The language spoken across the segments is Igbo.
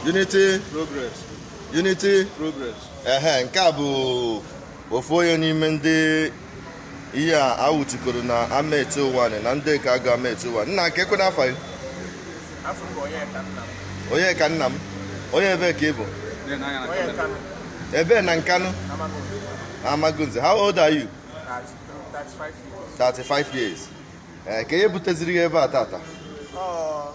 unity progress unity progress ehe nke a bụ ofu onye n'ime ndị ihe a nwụchikọrọ na Amechi Ụwanị Ndịagụ Amechi Ụwanị nna kee kwanụ afa gị Onyeka Nnam onye ebee ka ị bụ ebee na Nkanụ Amagunze how old are you 35 years ee eh, kee ihe buteziri gị ebe a taata oh.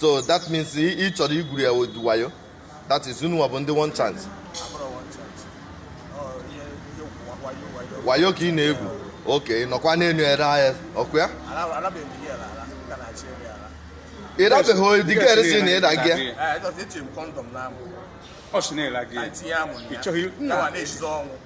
so that means ị chọrọ igwuru ya with wayo that is unu bụ ndị one chance wayo ka ị na-egwu oke nọkwa n'elu ere ahịa ọkụ ya ị dabeghị digere si na ịda gị ọ sị na-ele gị ị chọghị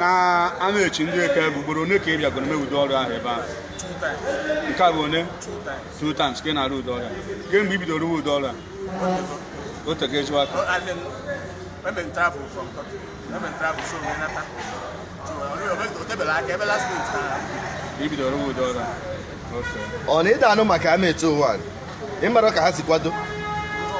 na a na-echi ndị eke bụ ugboro one ka ị bịagoro mee ụdị ọrụ ahụ ebe ahụ nke a bụ one two times ka ị na-arụ ụdị ọrụ a kee mgbe i bidoro rụwa ụdị ọrụ a o tego ejiwa aka i bidoro rụwa ụdị ọrụ a Okay. ọ na ịda anụ maka Amechi Ụwanị mara ka ha si kwado